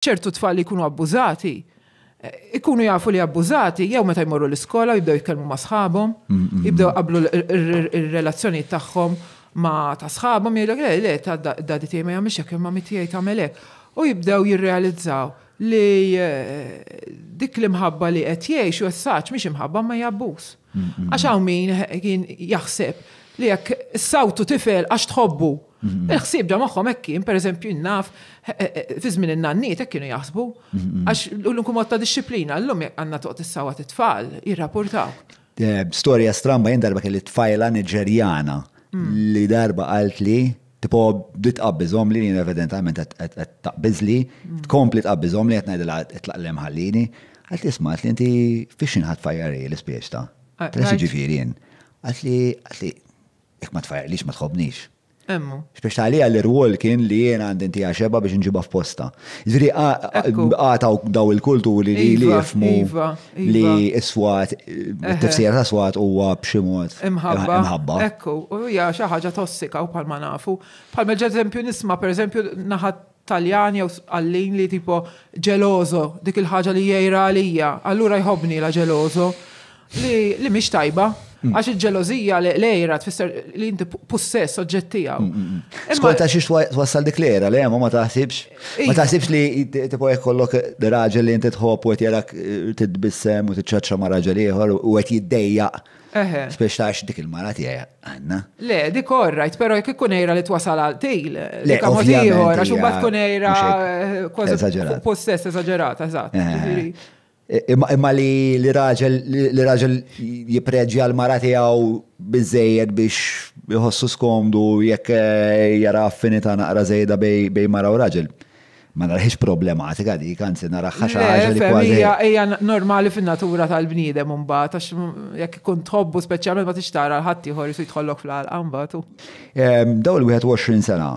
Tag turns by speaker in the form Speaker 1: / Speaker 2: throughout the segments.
Speaker 1: Ċertu tfal li jkunu abbużati, ikunu jafu li abbużati jew meta jmorru l-iskola jibdew jitkellmu ma' sħabhom, jibdew qablu r-relazzjonijiet tagħhom ma' ta' sħabhom jgħidlek le le ta' daddy tiegħi ma jagħmilx hekk, il-mommy tiegħi tagħmel hekk. U jibdew jirrealizzaw li dik l-imħabba li qed jgħixu as-saġ mhix imħabba imma hija abbuż. Għax hawn min kien jaħseb li jekk sawtu tifel għax tħobbu. Il-ħsieb da magħhom hekk kien, pereżempju naf eh, eh, eh, fi żmien in-nanniet hekk kienu jaħsbu. Għax l-unku mod ta' disċiplina llum jekk għandna toqgħod issawat it-tfal jirrapportaw. Storja
Speaker 2: stramba jien darba kelli tfajla Niġerjana li darba qalt li Tipo, bdiet tqabbiżhom li jien evidentalment qed taqbiżli, tkompli tqabbiżhom li qed ngħidilha itlaq lem ħallini. Għalt li smat li inti fiex xi ħadd fajjari l-ispieċ ta'. Tgħid ġifieri jien. Għalt li għalt li jekk ma tfajjarlix ma tħobbnix. Emmu. X'biex tagħlija l-irwol kien li jien għandi ntiha xeba biex nġibha f'posta. Ġifieri għataw daw il-kulturi li jifmu. Iva, li iva. s-swat, tifsira ta' swat huwa b'xi mod. Imħabba. Ekku, u hija
Speaker 1: xi ħaġa tossika u bħalma nafu. Bħalma ġeżempju nisma' pereżempju naħat Taljan jew għallin li tipo ġelozo dik il-ħaġa li jgħira għalija, allura jħobni la ġelozo li mhix tajba. Għax il-ġelożija li l-ejra tfisser li inti possess oġġett tiegħu. Skolta
Speaker 2: xiex twassal dik l-ejra li hemm ma taħsibx. Ma iva. taħsibx li tipo jekk kollok raġel li inti tħobb u qed jarak eh, titbissem u tiċċaċċa ma' raġel ieħor u qed jiddejjaq. Spiex tax dik il-mara tiegħi għandna. Le, dik orrajt, però jekk
Speaker 1: ikun ejra li twasal għal til. Le, mod ieħor għax imbagħad tkun ejra eh, kważi possess eżaġerata, eżatt. Imma
Speaker 2: li raġel li raġel jipreġja l-mara tiegħu biżejjed biex jħossu skomdu jekk eh, jara affinità naqra żejda bej mara u raġel. Ma narħiex problematika dik, anzi naraħħa xi ħaġa li kważi. Hija normali
Speaker 1: fin-natura tal-bniedem imbagħad għax jekk ikun tħobbu speċjalment ma tixtara l-ħadd ieħor isu jidħollok fl-għalqa mbagħad. Ehm, daw il-21
Speaker 2: sena.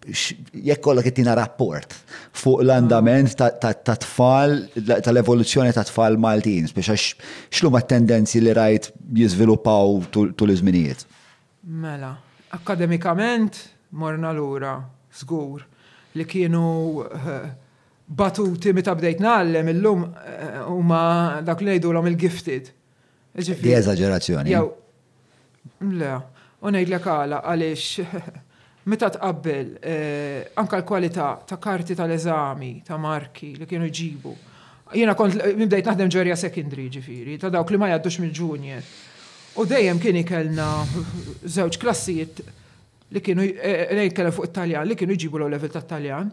Speaker 2: jekk kollok ittina rapport fuq l-andament ta' tfal, tal-evoluzzjoni ta' tfal Maltin, biex għax xlu ma' tendenzi li rajt jizviluppaw tul iż-żminijiet? Mela,
Speaker 1: akademikament morna lura, żgur, li kienu batuti meta bdejt ngħallem illum huma dak li ngħidulhom il-gifted. Di
Speaker 2: eżagġerazzjoni. Jew,
Speaker 1: le, u ngħidlek għala għaliex meta tqabbel eh, anka l-kwalità ta' karti tal-eżami ta' marki li kienu ġibu. Jiena kont bdejt naħdem ġorja secondary ġifieri, ta' dawk li ma jgħaddux mill-junior. U dejjem kien ikelna żewġ klassijiet li kienu eh, ngħid kellha fuq it-Taljan li kienu jġibu l level tat-Taljan.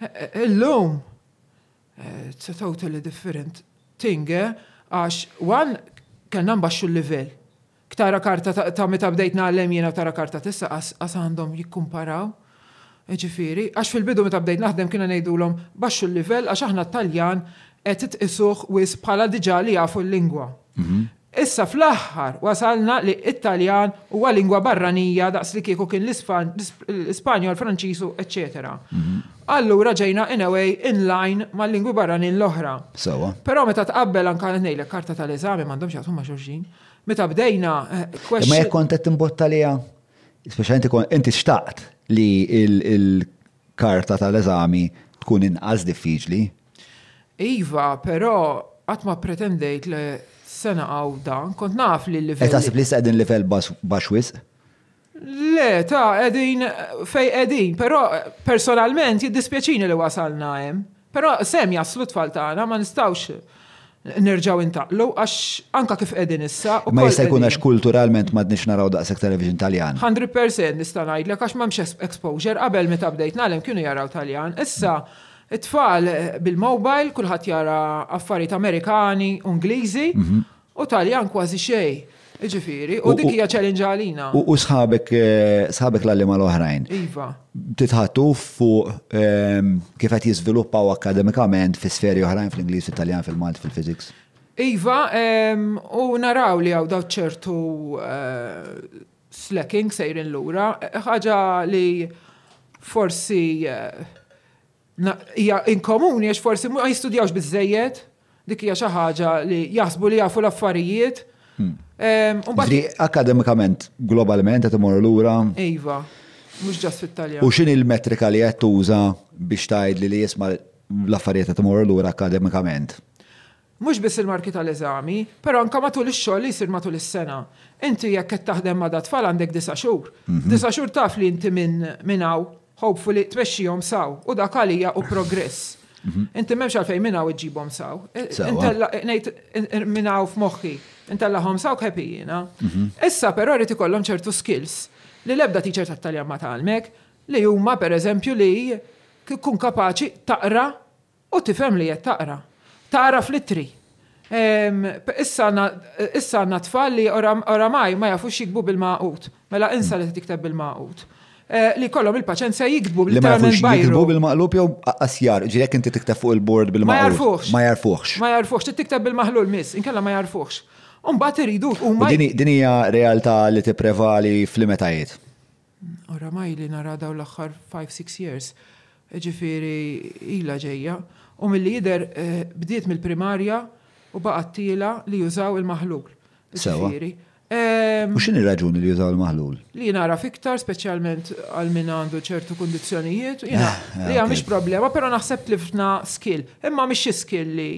Speaker 1: Eh, illum It's a totally different thing, eh? Għax, one, kellna nbaxxu l-livell. Ktara karta ta' meta bdejt nagħlem jiena tara karta tissa qas għandhom jikkumparaw. Ġifieri, għax fil-bidu meta bdejt naħdem kienu ngħidulhom baxxu l-livell għax aħna t-Taljan qed tqisuh wisq bħala diġà li jafu l-lingwa. Mhm. Issa fl-aħħar wasalna li it-Taljan huwa lingwa barranija daqs li kieku kien l-Ispanjol, Franċiż u eċċetera. Allura ġejna in a way in line mal-lingwi barranin l-oħra. Sewwa. Però meta tqabbel anke qed ngħidlek karta tal-eżami m'għandhomx x'jaqsmu ma' xulxin. Meta bdejna question. Imma jekk kont
Speaker 2: qed timbotta liha, speċjalment inti xtaqt li karta tal-eżami tkun inqas diffiċli. Iva,
Speaker 1: però qatt ma ppretendejt li s-sena għawda kont naf li l-livell. Qed taħseb li issa qegħdin livell
Speaker 2: baxx wisq? Le,
Speaker 1: ta' qegħdin fejn qegħdin, però personalment jiddispjaċini li wasalna hemm. Però sehem jaslu t-tfal tagħna, ma nistgħux nerġgħu intaqlu għax anke kif qegħdin issa. Imma jista' jkun għax
Speaker 2: kulturalment m'għadniex naraw daqshekk television Taljan. Hundred percent nista'
Speaker 1: ngħidlek għax m'hemmx exposure, qabel meta bdejt ngħallem kienu jaraw Taljan, issa t-tfal bil-mobile kulħadd jara affarijiet Amerikani u Ingliżi U Taljan kważi xejn. Jiġifieri, u dik hija challenge għalina. U sħabek
Speaker 2: eh, sħabek l-għalliema l-oħrajn. Iva.
Speaker 1: Titħattu
Speaker 2: fuq ehm, kif qed jiżviluppaw akademikament fi sferi oħrajn fl-Ingliż, fil-Taljan, fil-Malti, fil-Physics. Iva,
Speaker 1: ehm, u naraw li għaw daw ċertu eh, slacking sejrin lura, ħaġa li forsi eh, Hija inkomuni għax forsi ma jistudjawx biżżejjed, dik hija xi ħaġa li jaħsbu li jafu l-affarijiet. Hmm.
Speaker 2: Ehm, akademikament,
Speaker 1: globalment,
Speaker 2: qed imorru lura. Iva,
Speaker 1: mhux ġast fit-Taljan. U x'in il-metrika li
Speaker 2: qed tuża biex tgħid li jisma' l-affarijiet qed imorru lura akademikament? Mhux
Speaker 1: biss il-marki tal-eżami, però anke matul ix-xogħol li jsir matul is-sena. Inti jekk qed taħdem ma' dat-tfal għandek disa' xhur. F'disa' xhur taf li inti minn minn hawn, hopefully, tmexxihom saw u dak għalija hu progress. Inti m'hemmx għalfejn minn hawn iġġibhom saw. Intella', ngħid minn hawn f'moħħi, intellagħhom saw khepi jiena. Issa però jrid ikollhom ċertu skills li l-ebda teacher tat-Taljan ma tgħallmek, li huma, pereżempju, li tkun kapaċi taqra U tifhem li qed taqra. Tagħraf li tri. Ehm, issa għandna, issa għandna tfal li oramaj ma jafux jiktbu bil-magħqud. Mela insa li tikteb bil-magħqud. Eh, li kollhom il-paċenzja jiktbu bil-magħqud. Li ma jafux jiktbu
Speaker 2: bil-magħqud jew asjar, ġi jekk inti tikteb fuq il-bord bil-magħqud. Ma jarfuħx. Ma jarfuħx. Ma jarfuħx, trid tikteb
Speaker 1: bil-maħlul miss, inkella ma jarfuħx. Umbat iridu huma. Din hija
Speaker 2: realtà li tipprevali fl-imetajiet. Oramai
Speaker 1: li nara dawn l-aħħar five, six years, ġifieri ilha ġejja, u milli jidher bdiet mill-primarja u baqgħet tiela' li jużaw il-maħlul. Sewwa.
Speaker 2: U x'inhi r-raġuni li jużaw il-maħlul? Li nagħraf iktar,
Speaker 1: speċjalment għal min għandu ċertu kundizzjonijiet, jiena hija mhix problema, però naħseb tlifna skill. Imma mhix xi skill li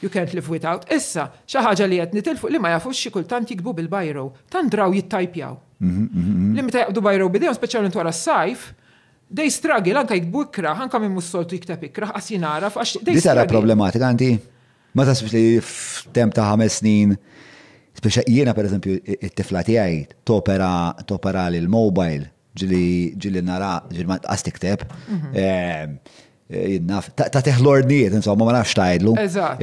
Speaker 1: you can't live without. Issa, xi ħaġa li qed nitilfu li ma jafux xi kultant jiktbu bil-biro. Tant draw jittajpjaw. Li meta jaqbdu bajra b'idejhom speċjalment wara s-sajf, they struggle anke jiktbu ikrah, anke min mhux soltu jikteb ikrah, qas jien għaraf għax they struggle. Di tara problematika
Speaker 2: għandi? Ma tasbx li f'temp ta' ħames snin Speċa jiena per eżempju it-tifla tiegħi topera topera l mobile ġili ġili nara ġili ma tqas tikteb. Mhm. Eh, Jinnaf, tagħtih l-ordnijiet, insomma, ma nafx tgħidlu.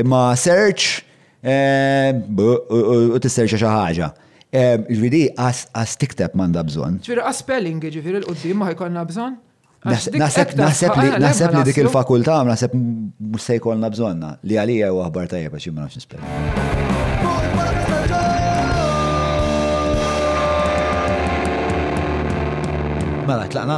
Speaker 2: Imma search u tisserċa xi ħaġa. Ġviri, għas tikteb manda bżon. Ġviri, għas spelling,
Speaker 1: ġviri, l-qoddim ma jkollna bżon. Naħseb
Speaker 2: li dik il-fakulta, naħseb mux se jkollna bżonna, li għalija u għahbar tajja biex jimma nafx nispelling. Mela, tlaqna?